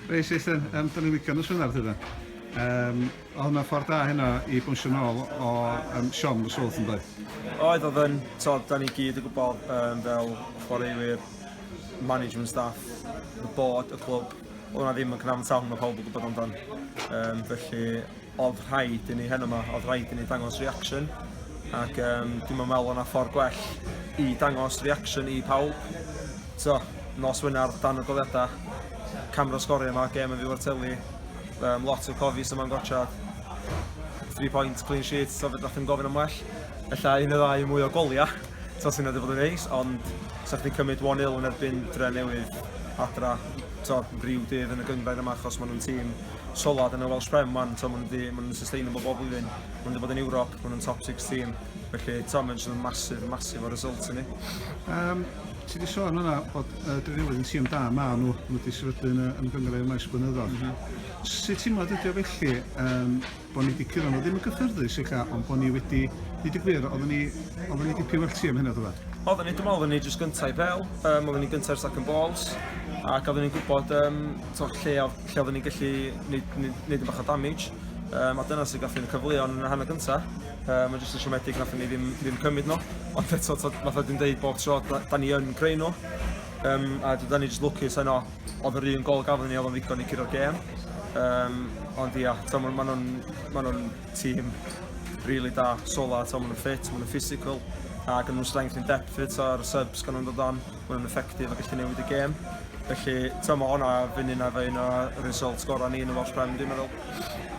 Reis eich dyn, um, dyn ni'n wigan y swynar tyda. Um, oedd hwnna'n ffordd da hynna i bwysio nôl o um, Siom y Swlth yn dweud? Oedd, oedd yn, tod, da ni gyd y gwybod um, fel chwaraewyr, management staff, y bod, y clwb, Oedd hwnna ddim yn cyfamsawm, mae pawb yn gwybod amdan. Um, felly, oedd rhaid i ni hen yma, oedd rhaid i ni dangos reaction. Ac um, dim yn meddwl o'na ffordd gwell i dangos reaction i pawb. So, nos wynar dan y goliadau, camera sgorio yma, gem yn fyw ar teli, um, lot o cofis yma'n gorchad, 3 points, clean sheet, so fe ddech chi'n gofyn am well. Ella un y ddau mwy o goliau. Tottenham wedi bod yn neis, ond sa chdi'n cymryd 1-0 yn erbyn dre newydd adra to, rhyw dydd yn y gyngrair yma achos maen nhw'n tîm solad yn y Welsh Prem man, to, maen nhw'n ma nhw sustainable bob blwyddyn, maen nhw wedi bod yn Ewrop, maen nhw'n top 6 tîm, felly to, mae'n just masif, masif o result i ni. Um, Ti wedi sôn yna bod uh, Drenewydd yn tîm da, maen nhw, maen nhw wedi sefydlu yn, yn y gyngrair maes blynyddoedd. Mm -hmm. Sut ti'n meddwl ydy o felly, um, bo' ni 'di curo nhw, ddim yn gyffyrddus ella, ond bo' ni wedi, deud y gwir, oeddwn ni, oeddwn ni dipyn well ti am hynna, ddyfad. Oeddwn ni, dwi'n meddwl, oeddwn ni jyst gyntaf i bel, um, oeddwn ni gyntaf i'r second balls, ac oeddwn ni'n gwybod um, to, lle, lle oeddwn ni'n gallu neud, neud, neud yn bach o damage, um, a dyna sy'n gallu yn y cyfleon yn y hanner gyntaf. Um, mae'n jyst yn siomedig nath ni ddim, ddim cymryd nhw, ond eto, fatha dwi'n dweud bob tro, da, da ni yn creu nhw, um, a da ni jyst lwcus yno, Oedd yr un gol gafon ni oedd o'n ddigon i curo'r gêm. Um, ond ia, ta, maen ma nhw'n ma nhw tîm really da, sola, ta, maen nhw'n ffit, maen nhw'n physical, a gan nhw'n strength in depth fyd, ta, ar y subs gan nhw'n dod on, maen nhw'n effective a gallu newid y gêm. Felly, ta, mae hwnna fynd un ar un o result gorau ni yn y Welsh Prem, dwi'n meddwl.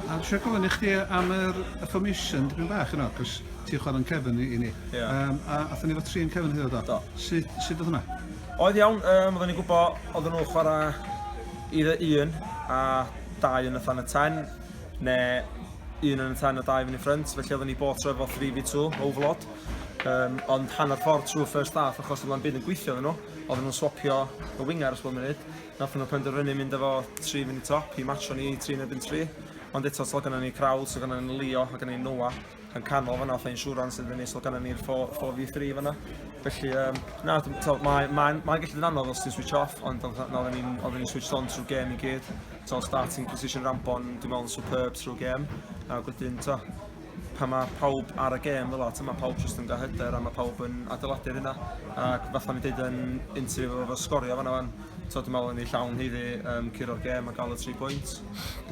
A eisiau gofyn i chdi am yr y formation dipyn bach yno, cos ti'n chwarae'n cefn i, i ni. Yeah. Um, a athyn ni fo tri yn cefn hyd o do. Sut, sut oedd hwnna? Oedd iawn, um, oedden ni'n gwybod oedden nhw'n chwarae i dde un a dau yn y tan y ten, neu un yn y ten a dau yn y ffrynt, felly oedden ni bod trwy efo 3v2 overload. Um, ond hanner ffordd trwy first half achos oedd o'n byd yn gweithio nhw, oedd nhw'n swapio y winger os bod munud. Nath nhw penderfynu mynd efo 3 yn y top i matcho ni 3 yn ebyn 3. Ond eto, so gyda ni Krawl, so gyda ni Leo, a gyda ni Noah. yn canol fanna, fatha insurance yn fyny, so gan ni'r 4v3 fanna. Felly, um, na, mae'n ma, ma gallu dyn anodd os ti'n switch off, ond oedden ni'n switch on trwy gem i gyd. So, starting position Rambon, dwi'n meddwl yn superb trwy gem. A gwydyn, to, pan mae pawb ar y gem fel at, mae pawb jyst yn gael hyder a mae pawb yn adeiladu'r yna. Ac fatha mi dweud yn interview efo sgorio fanna fan, t'od dwi'n me'wl yn ei llawn hi fi yym curo'r gêm a ga'l y tri pwynt.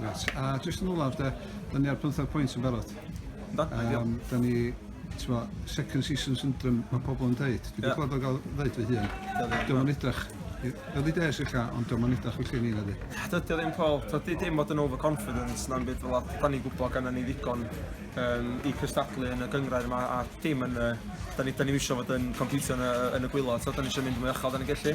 Reit a jyst yn olaf de, 'dan ni ar pymthag pwynt yn barod. Yndw ideal. Yym 'dan ni t'mo' second season syndrome ma' pobol yn deud. Dwi 'di Ie. clwad o ga'l ddeud fy hun. Dio ddim Dio'm yn edrach i- early days ella ond dio'm yn edrach felly i ni nadi? Dydy o ddim Paul, t'od di- dim bod yn overconfident na'm byd fel 'a. 'Dan ni'n gwbo gynnon ni ddigon yym i cystadlu yn y gynghrair 'ma a dim yn y Da ni, da ni eisiau fod yn competio yn y, yn y gwylod, so da ni eisiau mynd mwy achal da ni'n gellu.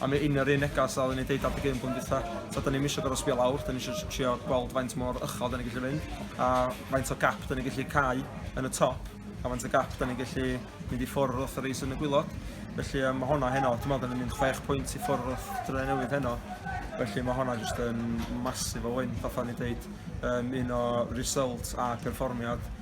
A mae un o'r un negas a o'n i'n deud adeg un blwyddyn dwytha, so da ni eisiau gorau sbio lawr, da ni eisiau trio gweld faint mor uchel da ni'n gallu mynd, a faint o gap da ni'n gallu cael yn y top, a faint o gap da ni'n gallu mynd i ffwrdd wrth y reis yn y gwylod. Felly um, mae hwnna heno, dwi'n meddwl da ni'n mynd 6 pwynt i ffwrdd wrth Dre Newydd heno, felly mae hwnna jyst yn masif o wyn, fatha ni'n deud, um, un o result a perfformiad